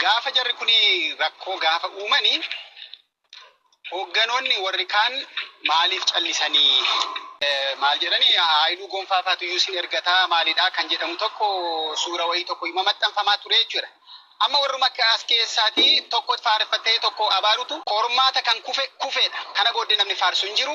Gaafa jarri kun rakkoo gaafa uumani hoogganoonni warri kaan maaliif callisanii maal jedhani Haayiluu Gonfaa faatu iyyuu sin ergataa maalidhaa kan jedhamu tokko suura wayii tokko ima maxxanfamaa ture jechuudha. Amma warruma akka as keessaati tokko faareffatee tokko abaarutu qormaata kan kufe kufeedha. Kana booddee namni faarsu hin jiru.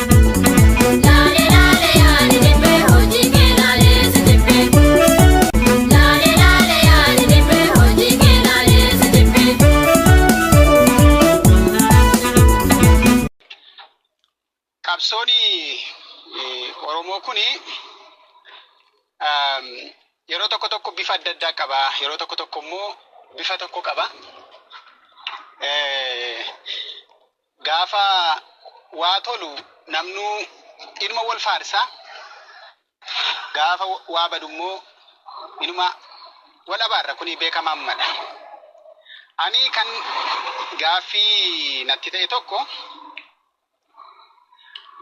Laale laale yaani dibbee hojii kee laalee si jibbee. Laale laale yaani dibbee hojii kee laalee si jibbee. qabsoon eh, Oromoo kun yeroo tokko tokko bifa adda addaa qaba. Yeroo tokko tokko immoo bifa tokko qaba. Eh, Gaafa waa tolu namnuu inuma wol faarsa, gaafa waa badu immoo inuma wol abaarra, kuni beekamaammadha. Ani kan gaaffii natti ta'e tokko,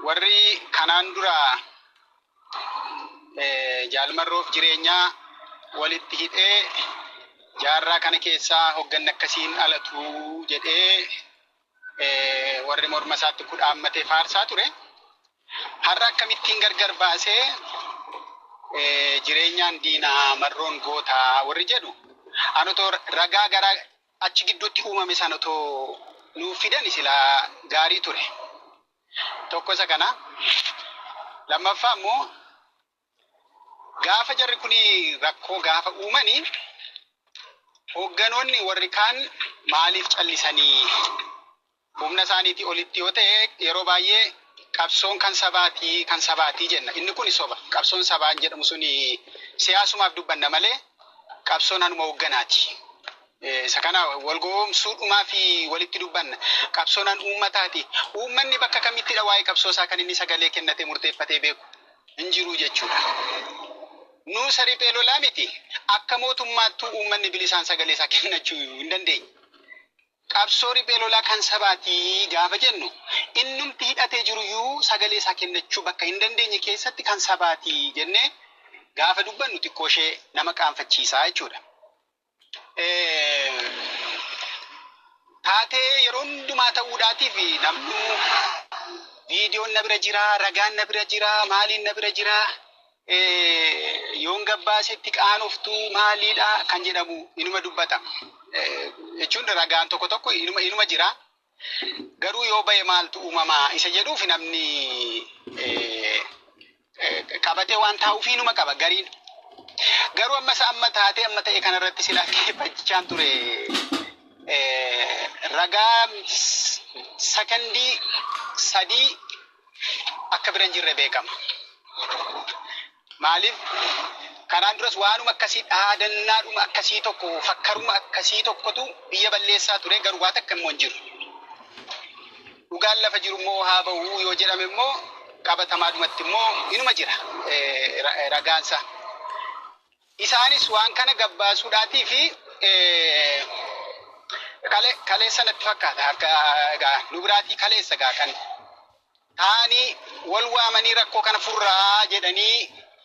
warri kanaan dura Jaal Marroof jireenyaa wolitti hidhee jaarraa kana keessaa hogganni akkasii hin dhalatu jedhee warri morma isaatti kudhaammatee faarsaa ture. Har'a akkamittiin gargar baasee jireenyaan diinaa marroon gootaa warri jedhu an otoo ragaa gara achi gidduutti uumame san otoo nuuf fidan silaa gaarii ture. Tokko isa kana. Lammaffaa immoo Gaafa jarri kun rakkoo gaafa uumani hoogganoonni warri kaan maaliif callisanii? Humna isaaniitii olitti yoo ta'e yeroo baay'ee qabsoon kan sabaatii kan sabaatii jenna. Inni kun soba. Qabsoon sabaan jedhamu sun siyaasumaaf dubbanna malee qabsoon hanuma hoogganaati. Eh, Isa kana wal gowwoomsuu dhumaa fi walitti dubbanna. Qabsoon han uummataati. Uummanni bakka kamittidha waa'ee qabsoo isaa kan inni sagalee kennatee murteeffatee beeku. hin jiru jechuudha. Nuusa riphee lolaa miti akka mootummaattuu uummanni bilisaan sagalee isaa kennachuu hin dandeenye. Qabsoo riphee lolaa kan sabaatii gaafa jennu innumti hidhatee jiruyyuu sagalee isaa kennachuu bakka hin dandeenye keessatti kan sabaatii jennee gaafa dubbannu xiqqooshee nama qaanfachiisaa jechuudha. Taatee yeroo hundumaa ta'uudhaatiif namnuu viidiyoon na bira jira, ragaan na bira jira, maaliin na bira jira, yoon gabbaasetti qaanoftu maaliidha kan jedhamu inuma dubbata. Jechuun ragaan tokko tokko inuma jira. Garuu yoo ba'e maaltu uumama isa jedhuuf namni eh, eh, qabatee waan taa'u ofiinuma qaba gariin. Garuu amma isa amma taatee amma ta'e kanarratti silaa keeffachaan ture eh, ragaa s- sakandii sadii akka bira hin jirre beekama. Maaliif kanaan duras waanuma akkasii dhaadannaadhuma akkasii tokko fakkaruma akkasii tokkotu biyya balleessaa ture garuu waa takka immoo hin jiru. Dhugaan lafa jiru immoo haa ba'u yoo jedhame immoo qabatamaadhumatti immoo inuma jira eh, ra- eh, ragaansaa. Isaanis waan kana gabbaasuudhaatii fi eh, kale kaleessa natti fakkaata akka egaa nu biraatii kaleessa egaa kan taa'anii wal waamanii rakkoo kana furraa jedhanii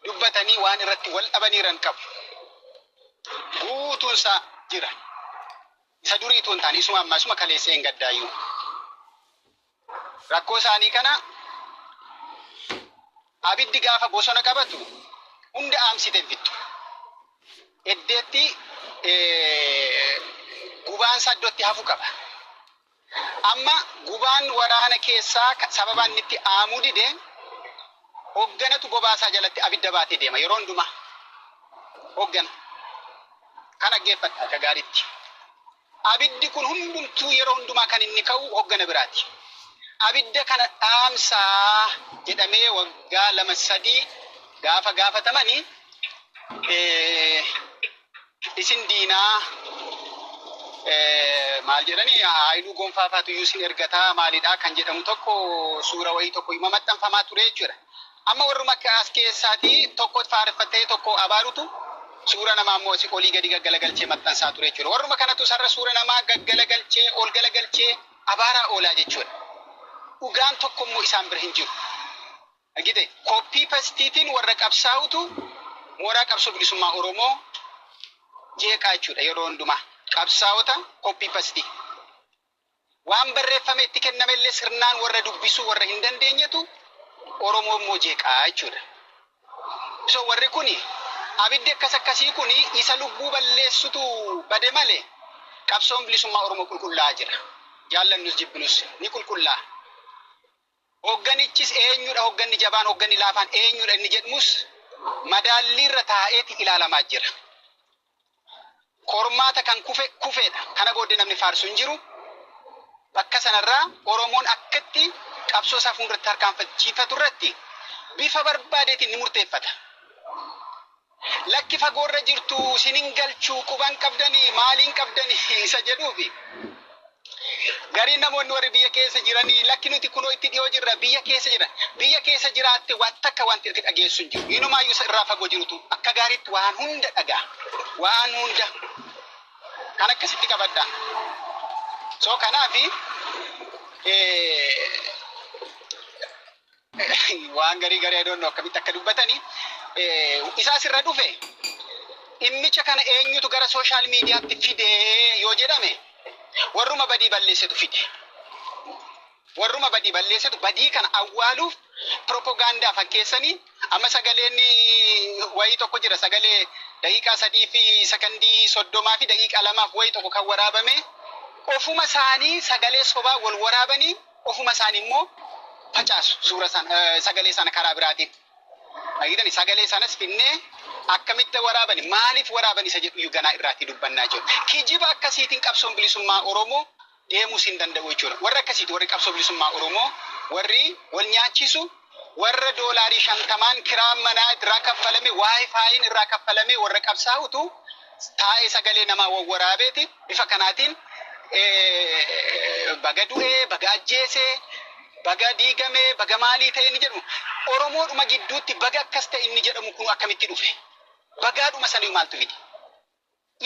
dubbatanii waan irratti wal dhabaniiran qabu. Guutuunsaa jira. Isa durii tuun taane isuma ammaa isuma kaleessee hin gaddaayyuu. Rakkoo isaanii kana abiddi gaafa bosona qabatu hunda aamsite bittu. Eddeetti gubaansaa iddootti hafu qaba. Amma gubaan waraana keessaa sababa inni itti aamuu dide hogganatu bobaa isaa jalatti abidda baatee deema yeroo hundumaa. Hoggana. Kan dhaggeeffatte akka gaariitti. Abiddi kun hundumtuu yeroo hundumaa kan inni ka'u hoggana biraati. Abidda kana dhaamsaa jedhamee waggaa lama sadii gaafa gaafatamani isin diinaa eh, maal jedhani haayiluu gonfaa faatu iyyuu isin ergataa maalidhaa kan jedhamu tokko suura wayii tokko ima maxxanfamaa ture jechuudha. Amma warruma akka as keessaatii tokko faarfattee tokko abaarutu suura namaa immoo si olii gadi gaggalagalchee maxxansaa ture jechuudha. Warruma kanatu sarara suura namaa gaggalagalchee ol galagalchee abaaraa oolaa jechuudha. Dhugaan tokko immoo isaan bira hin jiru. Argite? Koppii pastiitiin warra qabsaa'utu mooraa qabsoo bilisummaa Oromoo jeeqaa jechuudha yeroo hundumaa. Qabsaa'ota koppii pastii. Waan barreeffame itti kenname illee sirnaan warra dubbisuu warra hin dandeenyetu Oromoo immoo jeeqaa jechuudha. So warri kuni abiddi akkas akkasii kuni isa lubbuu balleessutu bade malee qabsoon bilisummaa Oromoo qulqullaa'aa jira. Jaallannus jibbinus ni qulqullaa'a. Hogganichis eenyudha hogganni jabaan hogganni laafaan eenyudha inni jedhmus madaalliirra taa'eeti ilaalamaa jira. Qormaata kan kufe kufeedha. Kana booddee namni faarsu hin jiru. Bakka sanarraa Oromoon akkatti qabsoo isaa fuulduratti tarkaanfachiifatu irratti bifa barbaadeetiin ni murteeffata. Lakki fagoorra jirtu sin hin galchu quban qabdani maaliin qabdani isa jedhuufi gariin namoonni warri biyya keessa jiranii lakki nuti kunoo itti dhiyoo jirra biyya keessa jira biyya keessa jiraatte waan takka wanti itti dhageessu hin jiru inumaayyuu isa irraa fagoo jirutu akka gaariitti waan hunda dhagaa waan hunda kan akkasitti qabadha soo kanaafi waan garii garii I don't know akkamitti akka dubbatani isaa sirra dhufe dhimmicha kana eenyutu gara sooshaal miidiyaatti fide yoo jedhame warruma badii balleessetu fide. Warruma badii balleessetu badii kana awwaaluuf piropogaandaa fakkeessanii amma sagaleen wayii tokko jira sagalee daqiiqaa sadii fi sakandii soddomaa fi daqiiqaa lamaaf wayii tokko kan waraabame ofuma isaanii sagalee sobaa wal waraabanii Ofuma isaanii immoo facaasu suura sana, sagalee sana karaa biraatiin. Argitani sagalee sanas finnee akkamitti waraabani maaliif waraabani isa jedhu ganaa irraatii dubbannaa jiru. Kijiba akkasiitiin qabsoon bilisummaa Oromoo deemuus hin danda'u jechuudha. Warri akkasiiti warri qabsoo bilisummaa Oromoo warri wal nyaachisu Warra doolaarii shantamaan kiraan manaa irraa kaffalame, waayifaayiin irraa kaffalamee warra qabsaa'utu taa'ee sagalee namaa wawwaraabeeti. Bifa kanaatiin baga du'ee, baga ajjeese, baga diigame, baga maalii ta'e inni jedhamu. Oromoodhuma gidduutti baga akkas ta'e inni jedhamu kun akkamitti dhufe? Bagaadhuma sanii maaltu fide?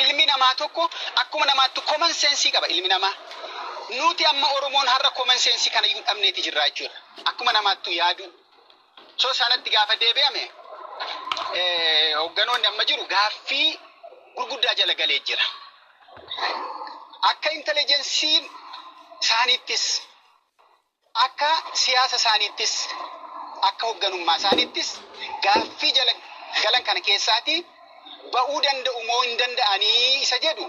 Ilmi namaa tokko akkuma namaatti common sense qaba ilmi namaa. Nuti amma Oromoon har'a common sense kanayyuu dhabneeti jirraa jechuudha. Akkuma namaattuu yaaduu. So sanatti gaafa deebi'ame hogganoonni amma jiru gaaffii gurguddaa jala galee jira. Akka intelijensiin isaaniittis Akka siyaasa isaaniittis, akka hogganummaa isaaniittis gaaffii jala galan kana keessaatii ba'uu danda'u moo hin danda'anii isa jedhu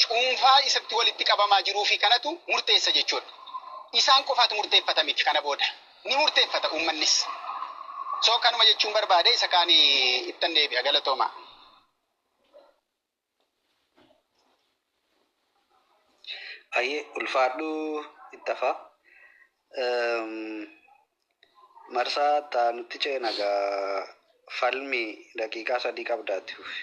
cuunfaa isatti walitti qabamaa jiruu fi kanatu murteessa jechuu dha. Isaan qofaatu murteeffata miti kana booda ni murteeffata uummannis. So kanuma jechuun barbaade isa kaan ittan deebi'a. Galatoomaa. Ayyee ulfaadhu itti hafaa. Marsaa itti aanutti ceena egaa falmi daqiiqaa sadii qabda itti fufi.